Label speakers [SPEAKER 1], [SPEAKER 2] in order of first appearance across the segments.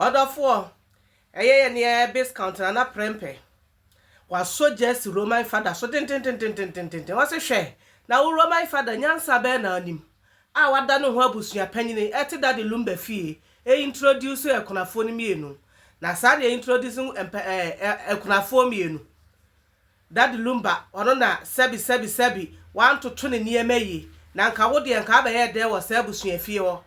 [SPEAKER 1] Ɔdɔfoɔ, ɛyɛ yɛ nea ɛyɛ biscount na na prɛmpɛ. Wasɔ gyasi Roman fada so dententententententen. Ɔse, Hwɛ, na wo Roman fada nyansa bɛn na ɔnim a wada ne ho abusua panyini ɛte Daddy Lumba fie e introduce akunafoɔ no mmienu? Na saa na e introduce mpɛ ɛɛ akunafoɔ mmienu. Daddy Lumba ɔno na sɛbi sɛbi sɛbi wantoto ne nneɛma yie na nka wo deɛ nka abɛyɛ dɛn wɔ saa abusua fie hɔ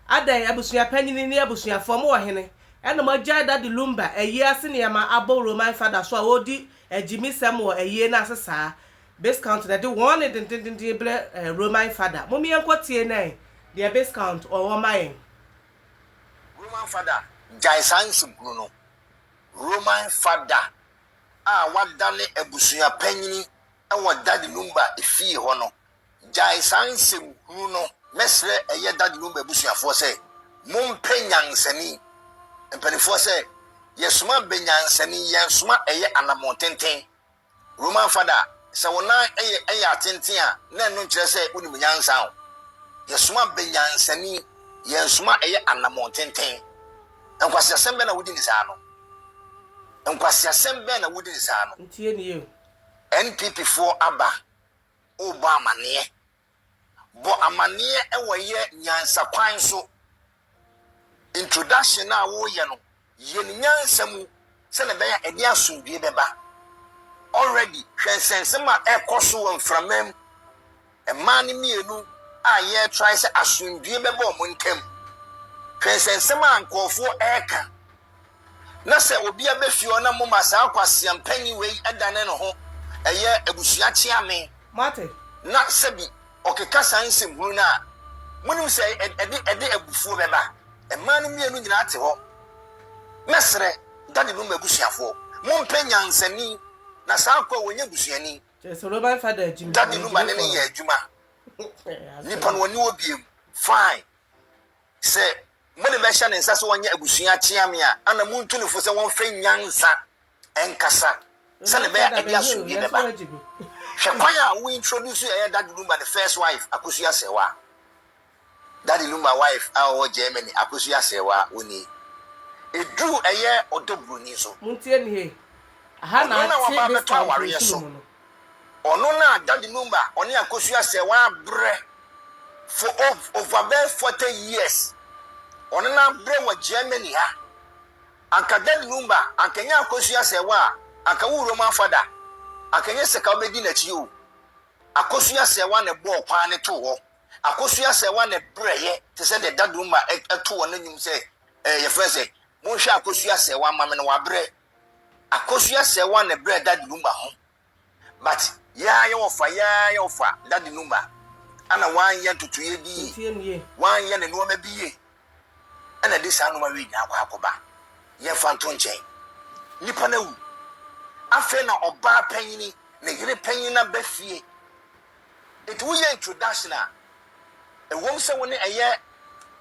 [SPEAKER 1] adɛn abusua panyini ne abusuafoɔ mo wɔ hene ɛna mo agyae Daddy Lumba ayie ase nneɛma abɔ Roman fada so a ɔredi agyimisɛm wɔ ayie no ase saa Biscount na ɛde wɔn nne dendendenden brɛ Roman fada mom yɛnkɔ tie nɛn deɛ Biscount ɔwɔ ma yɛn.
[SPEAKER 2] Roman fada gyae saa nsɛm hunu no Roman fada a wadane abusua panyin wɔ Daddy Lumba fie hɔ no gyae saa nsɛm hunu no. Mɛsrɛ ɛyɛ Daddy Lumba abusuafoɔ sɛ mompɛ nyansani mpaninfoɔ sɛ yɛsoma bɛ nyansani yɛnsoma ɛyɛ anamɔn tenten. Roman Fada sɛ wo nan yɛ ɛyɛ atenten a na ɛno nkyerɛ sɛ wo nim nyansa o. Yɛsoma bɛ nyansani yɛnsoma ɛyɛ anamɔn tenten. Nkwaseasɛm bɛn na wodi ne saa no? Nkwaseasɛm bɛn na wodi ne saa no? Ntie nie
[SPEAKER 1] o. NPP
[SPEAKER 2] foɔ aba rebɔ amaneɛ. Bɔ amaneɛ wɔ yɛ nyansa kwan so. Introduction a woreyɛ no, yɛ no nyansa mu. sɛnea ɛbɛyɛ a ɛde asomdwoe bɛba. Already, hwɛ nsɛnsɛm a ɛrekɔ so wɔ mframa mu. Mmaa no mmienu a yɛretrae sɛ asomdwoe bɛba wɔn ntam. Hwɛ nsɛnsɛm a nkurɔfoɔ reka. Na sɛ obi aba fie hɔ na moma saa kwaseam panyin wei dane ne ho, ɛyɛ abusua kyeame. Moate? Na
[SPEAKER 1] sɛbi.
[SPEAKER 2] ɔkeka saa nsɛm hunu no a, monim sɛ ɛde ɛde abufuo bɛba. Mmaa no mmienu nyinaa te hɔ. Mɛsrɛ, Dade no m'abusuafoɔ, mompɛ nyansani, na saa akoa yi, ɔnyɛ busuani.
[SPEAKER 1] Dade no ma ne ne yɛ
[SPEAKER 2] adwuma. Nipa no, ɔne wɔ biem. Fine. Sɛ mode bɛhyɛ ne nsa sɛ ɔnyɛ abusua kyea me a, ana montu no fo sɛ wɔmfɛ nyansa ɛnkasa sɛnea ɛbɛyɛ a ɛde asomdwoe bɛba. Hwɛ kwan a wo introduce ɛyɛ Daddy Lumba ne first wife Akosua Aserewa. Daddy Lumba wife a ɔwɔ Germany Akosua Aserewa wo ni. Eduru ɛyɛ ɔdɔ buroni so. Ɔno
[SPEAKER 1] na waba abɛtɔ awareɛ
[SPEAKER 2] so. Ɔno na Daddy Lumba ɔne Akosua Aserewa abrɛ for over bɛyɛ forty years. Ɔne no abrɛ wɔ Germany ha. Anka Dad Lumba, anka ɛnyɛ akosua sɛ wo a, anka wo wura mu afa da. Anka ɛnyɛ sika wobɛdi n'akyi o. Akosua sɛ wo na ɛbɔɔ kwan no too hɔ. Akosua sɛ wo na ɛbrɛeɛ te sɛ deɛ Dad Lumba to wɔ n'anwum sɛ ɛɛ yɛfrɛ no sɛ, Monhwɛ Akosua sɛ wo, ama me no wabrɛ. Akosua sɛ wo na ɛbrɛɛ Dad Lumba ho But yaa yɛ ɔfa yaa yɛ ɔfa daddy no mma ana wanyɛ ntotoeɛ bi yie wanyɛ ne nnoɔma bi yie ɛna de saa nnoɔma wei nyinaa akɔ akɔba yɛmfa nto nkyɛn nipa no awu afei na ɔbaa panyini ne yere panyin no aba fie nti woyɛ introduction a ɛwom sɛ wo ne ɛyɛ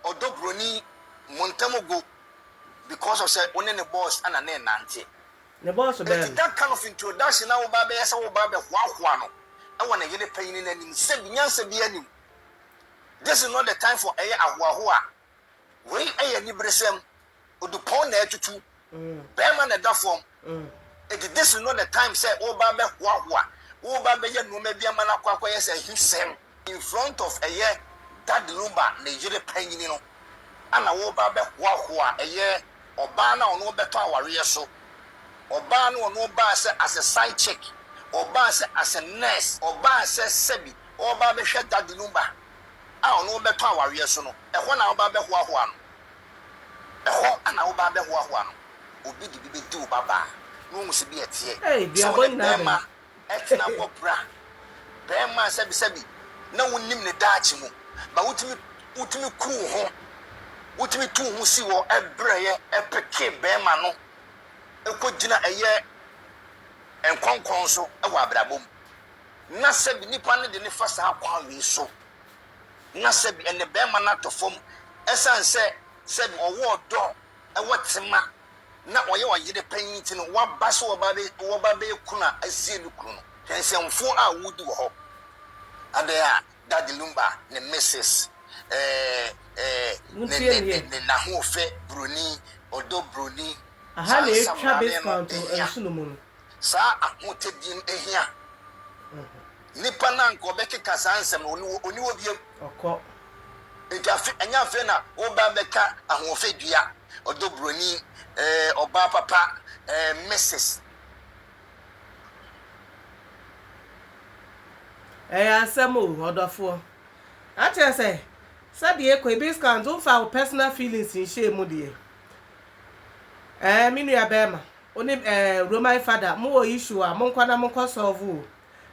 [SPEAKER 2] ɔdɔ buroni mo ntam go because of sɛ wo ne ne boss ana ne nante Ne bɔs bɛn?
[SPEAKER 1] Enti that kind of
[SPEAKER 2] introduction na woba bɛyɛ sɛ woba bɛ hoahoa no wɔ ne yere panyini no anim sɛ bi nyansa biaa nni mu this is not the time for ɛyɛ ahoahoa wei yɛ aniberesɛm odupɔn na atutu bɛɛma na ɛda fam enti this is not the time sɛ woba bɛ hoahoa woba bɛyɛ nnoɔma bi ama no akɔ akɔyɛ sɛ ahisɛm. In front of ɛyɛ Dad Lumba ne yere panyini no ana wɔreba abɛhoahoa ɛyɛ ɔbaa no a ɔne wɔn bɛtɔ awareɛ so, ɔbaa no a ɔne wɔn baa sɛ as a side chick, ɔbaa sɛ as a nurse, ɔbaa sɛ sɛbi ɔreba abɛhwɛ Dad Lumba a ɔne wɔn bɛtɔ awareɛ so no, ɛhɔ na wɔreba abɛhoahoa no, ɛhɔ na wɔreba abɛhoahoa no, obi de bi bɛdi wo babaa na wahu sɛ bi ɛteɛ, Ei, sɛ duabɔ wɔne nyinaa bɛn? bɛrima
[SPEAKER 1] Ɛtena hɔ
[SPEAKER 2] bere a barima a sɛbisɛbi na wunnim ne daakye mu, ma wutumi wutumi kuru wo ho, wutumi tu wo ho si hɔ brɛɛ peke barima no kogyina ɛyɛ nkɔnkɔn so wɔ abrabɔ mu. Na sɛbi nnipa no de no fa saa kwan wei so. Na sɛbi ɛnde barima no atɔ fam esiane sɛ sɛbi ɔwɔ ɔdɔ, ɔwɔ tema. na ɔyɛ ɔyere panyin nti no, waba sɛ wɔba bɛyɛ kunu a asie ne kunu no. Hwɛ nsɛmfua a wodi wɔ hɔ. Adɛn a Daddy Lumba ne Mrs. Ɛɛɛɛ ne n'ahoɔfɛ buroni, ɔdɔ buroni, saa
[SPEAKER 1] nsamanee no hia. Saa
[SPEAKER 2] ahotadie no hia. Nipa no a anka ɔbɛkeka saa nsɛm no, onni hɔ, onni hɔ biom. Ɔkɔ.
[SPEAKER 1] Enti
[SPEAKER 2] afe, ɛnyɛ afei na woreba abɛka ahoɔfɛ dua, ɔdɔ buroni, eh, ɔbaa papa, eh, Mrs.
[SPEAKER 1] Ɛyɛ asɛm o, ɔdɔfoɔ. Akyerɛ sɛ, sɛdeɛ ɛkɔ yi, Biz Clan, womfaa wo personal feelings nhyɛɛ mu deɛ. Eh, me nua bɛɛma, wo ne, eh, Roman Father, mowɔ issue a, monkɔ na monkɔ solve o.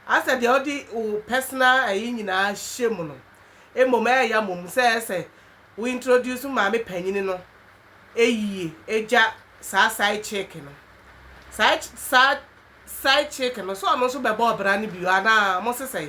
[SPEAKER 1] Asɛ deɛ wode wo personal ɛyi nyinaa hyɛ mu no, mmom ɛyɛ ya mmom sɛ ɛyɛ sɛ wo introduce wo maame panyini no ɛyie ɛgya saa side chick no. Saa saa side chick no sɛ ɔno nso bɛbɔ ɔbra no bio anaa? Mo sesɛe.